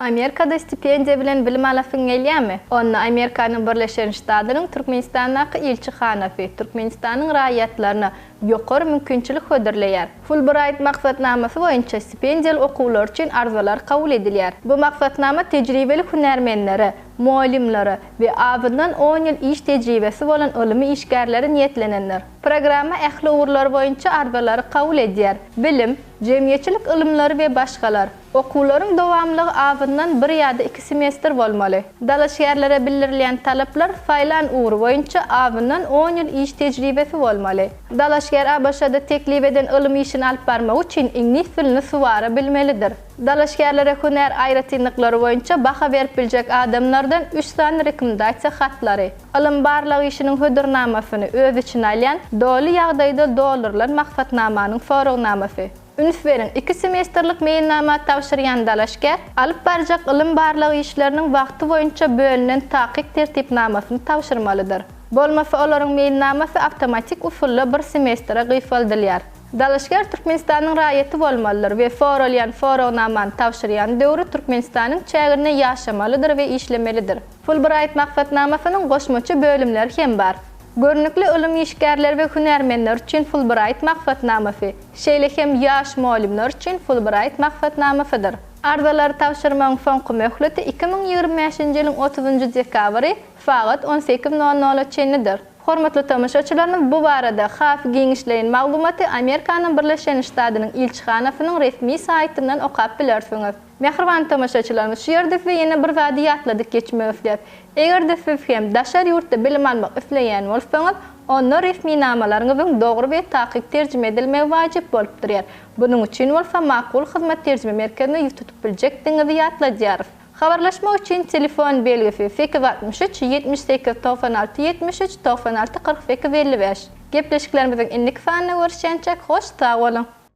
Amerikada stipendiýa bilen bilim alasyň gelýärmi? Onda Amerikanyň Birleşen Ştadynyň Türkmenistandaky ilçihanasy Türkmenistanyň raýatlaryna ýokary mümkinçilik hödürleýär. Fulbraýt maksatnamasy boýunça stipendiýaly okuwlar üçin arzalar kabul edilýär. Bu maksatnama tejribeli hünärmenlere, mugallymlara we azyndan on ýyl iş tejribesi bolan ylmy işgärlere niýetlenendir. Programma ähli ugurlar boýunça arzalary kabul edýär, bilim, jemgyýetçilik ylymlary we başgalar. Okuwlaryň dowamlygy azyndan bir ýa-da iki semestr bolmaly. Dalaşgärlere bildirilýän talaplar saýlan ugry boýunça azyndan on ýyl iş tejribesi bolmaly. Dalaşgär ABŞ-da teklip eden ylym işini alyp barmak üçin iňlis dilini suwara bilmelidir. Dalaşgärlere hünär aýratynlyklary boýunça baha berip biljek adamlardan üç sany rekomendasiýa hatlary, ylym-barlag işiniň hödürnamasyny öz içine alýan doly ýagdaýda doldurylan maksatnamanyň soragnamasy, Üns beriň, iki semestrlik meýilnama tabşyrýan dalaşgär alyp barjak ylym-barlag işleriniň wagty boýunça bölünen takyk tertipnamasyny tabşyrmalydyr. Bolmasa olaryň meýilnamasy awtomatik usulda bir semestre gysgaldylýar. Dalaşgär Türkmenistanyň raýaty bolmalydyr we soralýan soragnamany tabşyrýan döwri Türkmenistanyň çäginde ýaşamalydyr we işlemelidir. Fulbraýt maksatnamasynyň goşmaça bölümleri hem bar. Görnükli ylym işgärleri we hünärmenleri üçin Fulbraýt maksatnamasy, şeýle hem ýaş mugallymlar üçin Fulbraýt maksatnamasydyr. Arzalary tabşyrmagyň soňky möhleti iki müň ýigrimi bäşinji ýylyň otuzynjy dekabry sagat on sekiz nol nola çenlidir. Hormatly tomaşaçylarymyz bu barada has giňişleýin maglumaty Amerikanyň Birleşen Ştadynyň ilçihanasynyň resmi saýtyndan okap bilersiňiz. Mähriban tomaşaçylarymyz, şu ýerde size ýene bir zady ýatladyp geçmek isleýäs. Eger-de siz hem daşary ýurtda bilim almak isleýän bolsaňyz, onda resminamalaryňyzyň dogry we takyk terjime edilmegi wajyp bolup durýar. Bunuň üçin bolsa Makul Hyzmat terjime merkezine ýüz tutup biljekdigiňizi ýatladýarys. Habarlaşmak üçin telefon belgisi, sekiz altmyş üç, ýetmiş sekiz, togsan alty, ýetmiş üç, togsan alty, kyrk sekiz, elli bäş. Gepleşiklerimiziň indiki sanynda görüşýänçäk, hoş sag boluň!